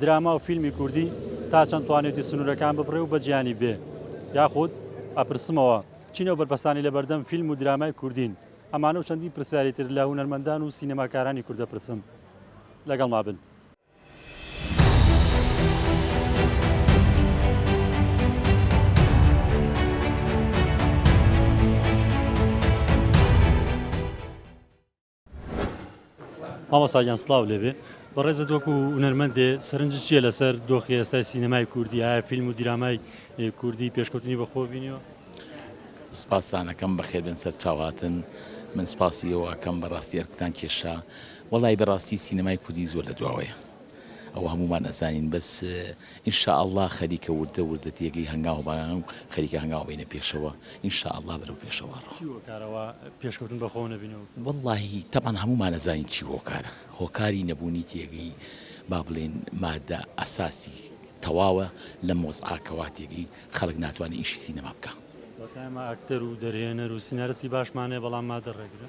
دراما و فیلمی کوردی تا چەند توانێتی سنوورەکان ببڕێ و بە جیهانی بێ؟ یاخود ئەپرسمەوە، چین ئەو بەرپەستانەی لە بەردەم فیلم و درامای کوردین؟ ئەمانە و چەندین پرسیاری تر لە هونەرمەندان و سینەماکارانی کورد دەپرسم. لەگەڵما بن. مامۆساگیان سلااو لێبێ بەڕێزت وەکو هونەرمەندێ سەرنج چیە لەسەر دۆخی ئێستای سینەمای کوردی ئایا فیلم و دیرامای کوردی پێشکەوتنی بەخۆ بینیەوە سپاسانەکەم بەخێبێن سەر چاوهاتن من سپاسی ئەوەکەم بەڕاستی ئەرکتان کێشا وەڵی بەڕاستی سینەمای کوردی زۆر لە دواوەیە ئەوە هەموومان ئەزانین بەس ان شاء اللە خەریکە وردە وردە تێگەی هەنگاو بەنان و خەریکە هەنگاو ئەبەینە پێشەوە ان شاء اللە بەرەو پێشەوە چی هۆکارە وا پێشکەوتن بەخۆوە نەبینەوە؟ وەڵاهی تەبعەن هەموومان ئەزانین چی هۆکارە هۆکاری نەبوونی تێگەی با بڵێین مادە ئەساسی تەواوە لەم وەزعە کەوا تێگەی خەڵک ناتوانێ ئیشی سینەما بکا. واتە ئێمە ئەکتەر و دەرهێنەر و سینارستی باشمان هەیە بەڵام مادە ڕێگرە؟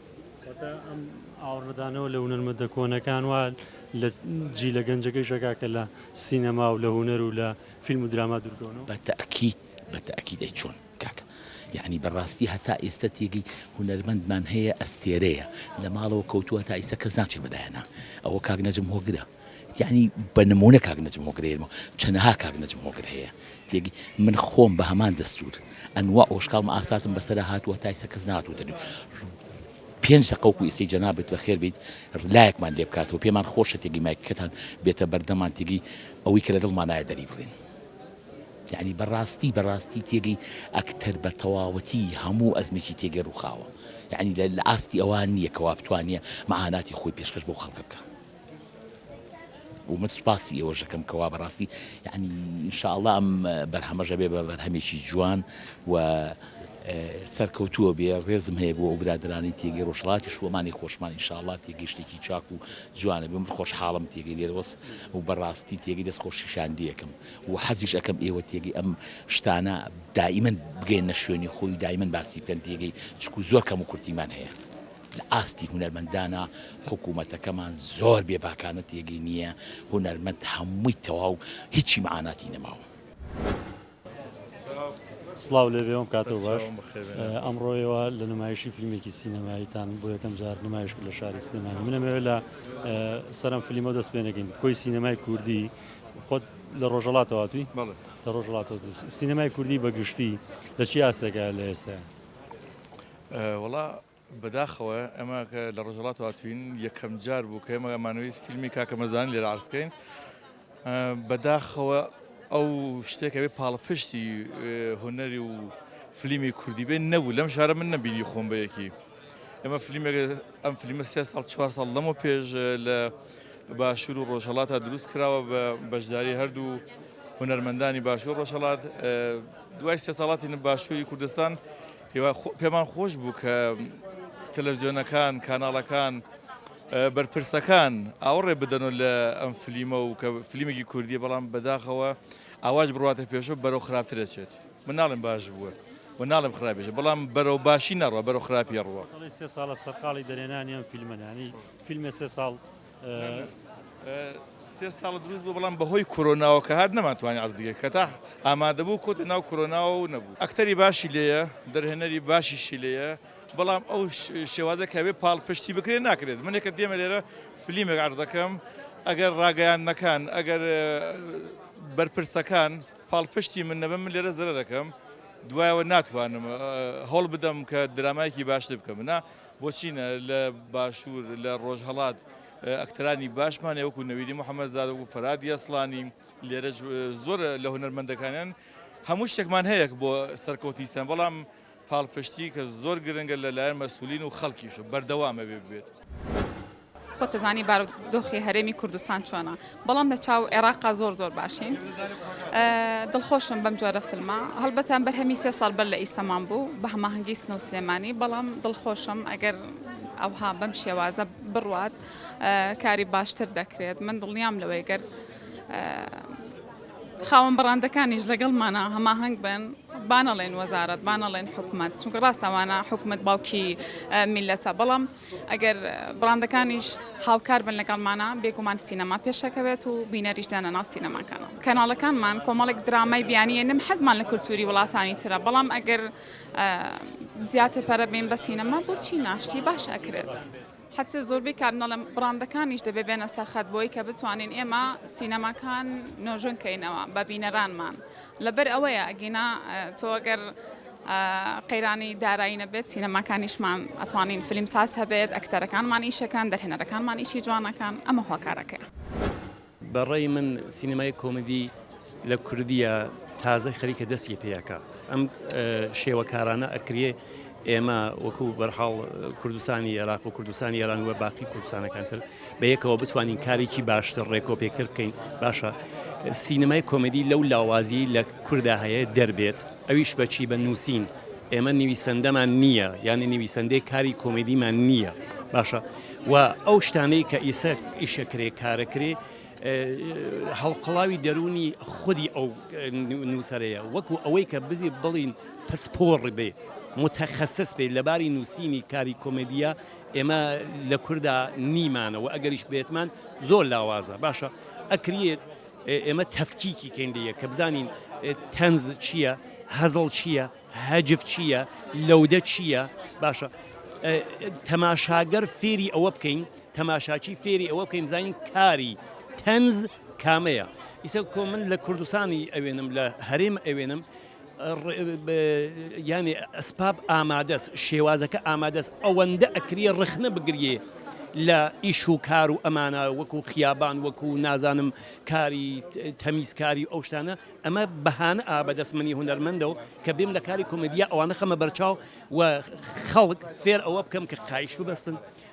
کەواتە ئەم ئاوڕدانەوە لە هونەرمەندە کۆنەکان وا لە جیلە گەنجەکەیشە کاکە لە سینەما و لە هونەر و لە فیلم و دراما دوورکەونەوە؟ بە تەئکید بە تەئکید ئەی چۆن کاکە یەعنی بە ڕاستی هەتا ئێستە تێگەی هونەرمەندمان هەیە ئەستێرەیە لە ماڵەوە کەوتووە هەتا ئیستە کەس ناچێ بە دایانا ئەوە کاک نەجم هۆگرە یەعنی بە نموونە کاک نەجم هۆگر هەیە، چەنەها کاک نەجم هۆگر هەیە تێگەی، من خۆم بە هەمان دەستوور ئەنوا ئۆشکاڵ مئاساتم بەسەرا هاتووە تایسە کەس ناتووتە نوێ پێنج دەقە وەکوو ئێستەی جەنابت بەخێر بێیت لایەکمان لێ بکاتەوە پێمان خۆشە تێگەی مایکەکەتان بێتە بەردەمان تێگەی ئەوەی کە لە دڵمانایە دەری بڕین یعنی بەڕاستی بەڕاستی تێگەی ئەکتەر بە تەواوەتی هەموو ئەزمێکی تێگەی ڕووخاوە یعنی لە ئاستی ئەوان نییە کەوا بتوانێ مەعاناتی خۆی پێشکەش بەو خەڵکە بکە و من سوپاسی ئێوەش دەکەم کە وا بەڕاستی یعنی ان شاء اللە ئەم بەرهەمەش ئەبێ بە بەرهەمێکی جوان و سەرکەوتووە بێ ڕێزم هەیە بۆ ئەو برادرانی تێگەی ڕۆژهەڵاتی شووەمانی خۆشمان ان شاء اللە تێگەی شتێکی چاک و جوانە بێ من خۆشحاڵم تێگەی لێرەوەس و بەڕاستی تێگەی دەست خۆشیشاندیەکەم و حەزیش ئەکەم ئێوە تێگەی ئەم شتانە دائیمەن بگەیەنە شوێنی خۆی و دایمەن باسی بکەن تێگەی چکو زۆر کەم و کورتیمان هەیە. لە ئاستی هونەرمەندانە حکومەتەکەمان زۆر بێ باکانە تێگەی نییە هونەرمەند هەمووی تەواو هیچی مەعاناتی نەماوە. سڵاو لێ بێوم کاتەو باش ئەمڕۆ ئێوە لە نمایشی فیلمێکی سینەماییتان بۆ یەکەم جار نمایش کرد لە شاری سلێمانی منەمەوێت لە سەرم فلیمە دەست پێ نەکەین کۆی سینەمای کوردی خۆت لە ڕۆژەڵاتەوەتوی لە ڕۆژڵاتەوە سینەمای کوردی بەگشتی لە چی ئاستێکە لە ئێستا وڵا بەداخەوە ئێمە کە لە ڕۆژهەڵات هاتوین یەکەم جار بوو کە ئێمە ئەمانەوەی فیلمی کاکە مەزان لێرە عرزکەین بەداخەوە ئەو شتێکەوێ پاڵپشتی هوەری و فلیمی کوردی بێن نەبوو لەم شارە من نەبینی خۆم بەیەکی ئەمە فلیمێک ئەم فلیمە سێ ساڵ چوار ساڵ لەمە پێش لە باشور و ڕۆژهڵاتە دروست کراوە بە بەشداری هەردوو هوەرمەندانی باشور ڕۆژهڵات دوای سێ ساڵاتی باشووری کوردستان پێمان خۆش بوو کە تەلەڤزیۆنەکان، کاناڵەکان، بەرپرسەکان ئاوڕێ بدەنەوە لە ئەم فلیمە و کە فلیمێکی کوردیە بەڵام بەداخەوە ئاواش بڕاتە پێشەوە بەرەو خراپترەچێت من ناڵێن باش بووە و ناڵم خراپێش بەڵام بەرەو باشی نەڕوە بەرەو خراپی ڕوە سێ ساڵە سەرقاڵی دەرێنانی ئەم فیلمەنانی فیلمە سێ ساڵ سێ ساڵە دروست بوو بەڵام بەهۆی کۆرۆناوە کە هات نەمانتوانی عەرز دیگە کە تا ئامادەبوو کۆتە ناو کۆرۆناوە و نەبوو ئەکتەری باشی لێیە دەرهێنەری باشیشی لێیە بەڵام ئەو شێوازە کەوێ پاڵپشتی بکرێت ناکرێت منێکە دێمە لێرە فلیمێک عەرز دەکەم ئەگەر ڕاگەیاندنەکان ئەگەر بەرپرسەکان پاڵپشتی من نەبم من لێرە زرە دەکەم دوایەوە ناتوانم هەڵ بدەم کە درامایکی باشتر بکەم منە بۆ چینە لە باشوور لە ڕۆژهەڵات ئەکتەرانی باشمان هەیە وەکو نەویدی محەممەد زادە و فەراد یەسڵانی لێرە زۆر لە هونەرمەندەکانیان هەموو شتێکمان هەیەک بۆ سەرکەوتنیستان بەڵام پاڵپشتی کە زۆر گرنگە لەلایەن مەسولین و خەڵکیش بەردەوامە بێ بێت. خۆت ئەزانی بارو دۆخی هەرێمی کوردستان چۆنە بەڵام لە چاو عێراقا زۆر زۆر باشین دڵخۆشم بەم جۆرە فلمە هەڵبەتان بەرهەمی سێ ساڵ بەر لە ئیسەمان بوو بە هەماهەنگی سنە و سلێمانی بەڵام دڵخۆشم ئەگەر ئەوها بەم شێوازە بڕوات کاری باشتر دەکرێت من دڵنیام لەوەی گەر خاوەن بڕاندەکانیش لەگەڵمانە هەماهنگ بن بانەڵێن وەزارت بانەڵێن حکوومەت چونکە ڕاستەوانە حکوومەت باوکی میلەتە بەڵام ئەگەر بڕاندەکانیش هاوکار بن لەگەڵمانە بێگومان سینەما پێشەکەوێت و بینەریش دانەناو سینەماکانە. کەناڵەکانمان کۆمەڵێک درامای بیانییە نم حەزمان لە کولتووری وڵاتانی ترە بەڵام ئەگەر زیاتر پەرە بین بە سینەما بۆچی نا شتی باش ئەکرێت. حەتە زۆربەی کات نەڵێم بڕاندەکانیش دەبێ بێنە سەرخەت بۆی کە بتوانین ئێمە سینەماکان نۆژەن کەینەوە بە بینەرانمان لەبەر ئەوەیە ئەگینا تۆ گەر قەیرانی دارایی نەبێت سینەماکانیشمان ئەتوانین فیلم ساز هەبێت ئەکتەرەکانمان ئیشەکان دەرهێنەرەکانمان ئیشی جوانەکان ئەمە هۆکارەکەی. بەڕای من سینەمای کۆمیدی لە کوردیە تازە خەریکە دەستی پێیەکە ئەم شێوەکارانە ئەکرێ ئێمە وەکو بەرحاڵ کوردستانی عێراق و کوردستانی ئێران وە باقی کوردستانەکانتر بە یەکەوە بتوانین کارێکی باشتر ڕێکۆپێکتر بکەین باشە سینەمای کۆمەدی لەو لاوازی لە کوردا هەیە دەربێت ئەویش بەچی بە نووسین ئێمە نویسەندەمان نییە یانی نویسەندەی کاری کۆمەدیمان نییە باشە و ئەو شتانەی کە ئیسە ئیشە کرێ کارە کرێ هەڵقڵاوی دەرونی خودی ئەو نووسەرەیە وەکو ئەوەی کە بزی بڵین پسپۆڕ بێ متخصص بێ لەباری نووسینی کاری کۆمەدیە ئێمە لە کوردا نیمانە وە ئەگەریش بێتمان زۆر لاوازە باشە ئەکریێت ئێمە تەفکیکی کەین لە یەک کە بزانین تەنز چییە هەزڵ چییە هەجف چییە لەودە چییە باشە تەماشاگەر فێری ئەوە بکەین تەماشاچی فێری ئەوە بکەین بزانین کاری تەنز کامەیە ئیسە کۆ من لە کوردستانی ئەوێنم لە هەرێم ئەوێنم یانی ئەسپاب ئامادەس شێوازەکە ئامادەس ئەوەندە ئەکریە ڕخنە بگریێ لە ئیش و کار و ئەمانە وەکو خیابان وەکو نازانم کاری تەمیزکاری ئەو شتانە ئەمە بەهانە ئابدەست منی هوەرمەندەوە کە بێم لە کاری کۆمەدیا ئەوانە خەمە بەرچاو و خەڵک فێر ئەوە بکەم کە قایش ببەستن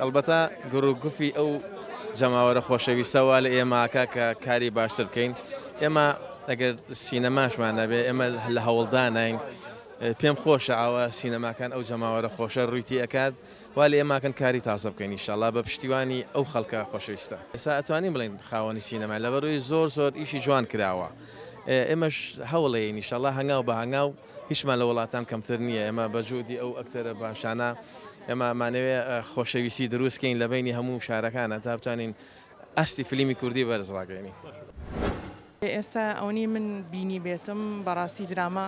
ئەڵبەتە گڕ و گفی ئەو جەماوەرە خۆشەویستە وا لە ئێمە ئەکا کە کاری باشتر بکەین. ئێمە ئەگەر سینەماشمان نەبێ ئێمە لە هەوڵداناین. پێم خۆشە ئاوا سینەماکان ئەو جەماوەرە خۆشە ڕووی تێ ئەکات. وا لە ئێمە ئەکەن کاری تازە بکەین ئیشاڵڵا بە پشتیوانی ئەو خەڵکە خۆشەویستە. ئێستا ئەتوانین بڵێین خاوەنی سینەماین لەبەر ئەوەی زۆر زۆر ئیشی جوان کراوە. ئێمەش هەوڵ ئەیەین ئیشاڵڵا هەنگاو بە هەنگاو. هیچمان لە وڵاتان کەمتر نیە ئێمە بە جوودی ئەو ئەکتەرە باشانە ئێمە ئەمانەوێ خۆشەویستی درووست کەین لە بەینی هەموو شارەکانە تا بتوانین ئاستی فلیمی کوردی بەرز ڕاگەیەنین. ئێستا ئەونەی من بینیبێتم بەڕاستی دراما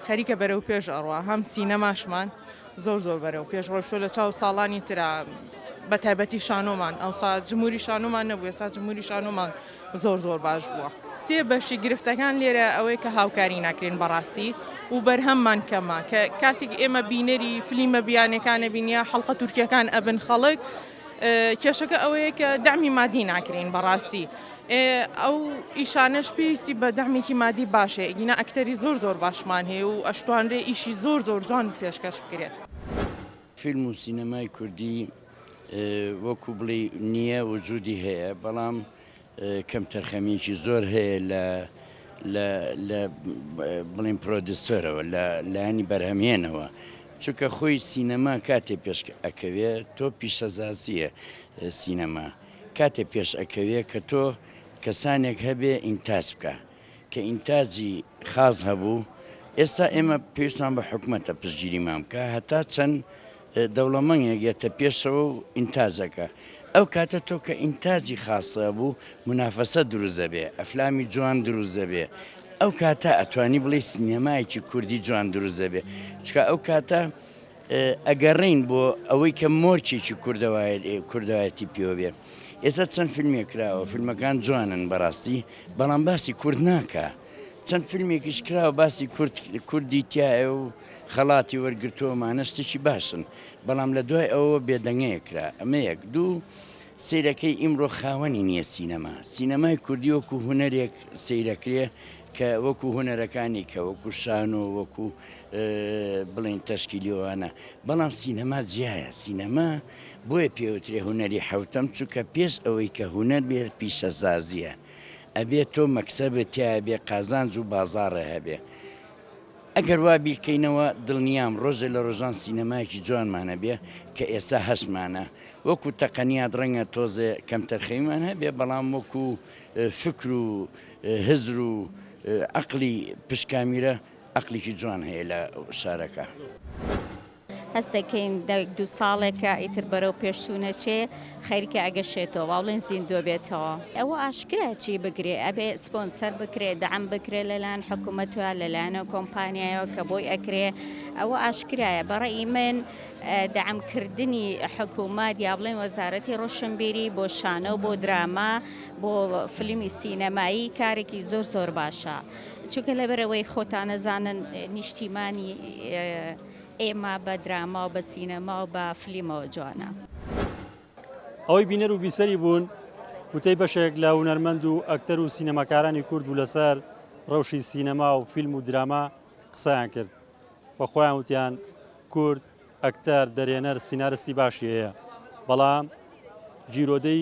خەریکە بەرەو پێش ئەڕوا هەم سینەماشمان زۆر زۆر بەرەو پێش ڕۆشتوە لە چاو ساڵانی ترا بە تایبەتی شانۆمان ئەوسا جموری شانۆمان نەبوو ئێستا جموری شانۆمان زۆر زۆر باش بووە. سێ بەشی گرفتەکان لێرە ئەوەیە کە هاوکاری ناکرێن بەڕاستی و بەرهەممان کەمە کە کاتیک ئێمە بینەری فلیمە بیانەکان ئەبین یا حەڵقە تورکیەکان ئەبن خەڵک کێشەکە ئەوەیە کە دەعمی مادی ناکرێین بەڕاستی ئەو ئیشانەش پێویستی بە دەعمێکی مادی باشە ئیگینا ئەکتەری زۆر زۆر باشمان هەیە و ئەشتوانرێ ئیشی زۆر زۆر جوان پێشکەش بکرێت. فیلم و سینەمای کوردی وەکو بڵێی نییە وجودی هەیە بەڵام کەمتەرخەمیەکی زۆر هەیە لە لە لە بڵین پرۆدیسۆرەوە لە لایەنی بەرهەمهێنەوە چونکە خۆی سینەما کاتێ پێش ئەکەوێ تۆ پیشەزازیە سینەما کاتێ پێش ئەکەوێ کە تۆ کەسانێک هەبێ ئینتاج بکە کە ئینتاجی خاس هەبوو، ئێستا ئێمە پێویستمان بە حکومەتە پشتگیریمان بکا هەتا چەند دەوڵەمەنگێک یەتە پێشەوە و ئینتاجەکە ئەو کاتە تۆ کە ئینتاجی خاصە بوو منافەسە دروست دەبێ ئەفلامی جوان دروست دەبێ ئەو کاتە ئەتوانی بڵێ سینەمایەکی کوردی جوان دروست دەبێ چکە ئەو کاتە ئەگەڕێین بۆ ئەوەی کە مۆرکێکی کوردایەتی پێوە بێ ئێستا چەند فیلمێک کراوە فیلمەکان جوانن بەڕاستی بەڵام باسی کورد ناکە چەند فیلمێکیش کراوە باسی کورد کوردی تایە و خەڵاتی وەرگتووەمانە شتێکی باشن بەڵام لە دوای ئەوە بێدەنگەیە کرا ئەمە یەک دوو سیرەکەی ئیمڕۆ خاوەنی نییە سینەما سینەمای کوردی وەکو هوەرێک سیرەکرێ کە وەکو هونەرەکانی کە وەکو شانۆ وەکو بڵین تەشکیلیۆوانە بەڵام سینەما جیایە سینەما بۆیە پێوترێ هونەری حوتم چونکە پێش ئەوەی کە هونەر بێت پیشەزازیە ئەبێت تۆ مەکسە بێت تیا بێ قازانج و بازاڕێ هەبێ ئەگەر وا بیرکەینەوە دڵنیام ڕۆژێ لە ڕۆژان سینەمایەکی جوانمانە بێ کە ئێستا هەشمانە وەکو تەقەنیات ڕەنگە تۆزێ کەمتەرخەیمان هەبێ بەڵام وەکو فکر و هزر و ئەقلی پشکا میرە ئەقلیکی جوان هەیە لە شارەکە. هەستەکەین دەک دوو ساڵێکە ئیتر بەرەو پێشچوو نەچێ خەیرکە ئەگەشێتەوە وا بڵێن زیندووە بێتەوە. ئەوە ئاشکرایە چی بکرێ ئەبێ سپۆنسەر بکرێ دەعم بکرێ لەلایەن حکومەتەوە لەلایەنە کۆمپانیایەوە کە بۆی ئەکرێ ئەوە ئاشکرایە بە ڕەئی من دەعم کردنی حکومەت یا بڵێن وەزارەتی ڕۆشنبیری بۆ شانۆ بۆ دراما بۆ فلیمی سینەمایی کارێکی زۆر زۆر باشە چونکە لەبەرەوەی خۆتانەزانن نیشتیمانی ئێمە بە دراما و بە سینەما و بە فلیمەوە جوانە. ئەوەی بینەر و بیسەری بوون وتەی بەشێک لە هونەرمەند و ئەکتەر و سینەماکارانی کورد بوو لەسەر رەوشی سینەما و فیلم و دراما قسەیان کرد و خۆیان وتیان کورد ئەکتەر، دەرێنەر، سینارستی باشی هەیە بەڵام گیرۆدەی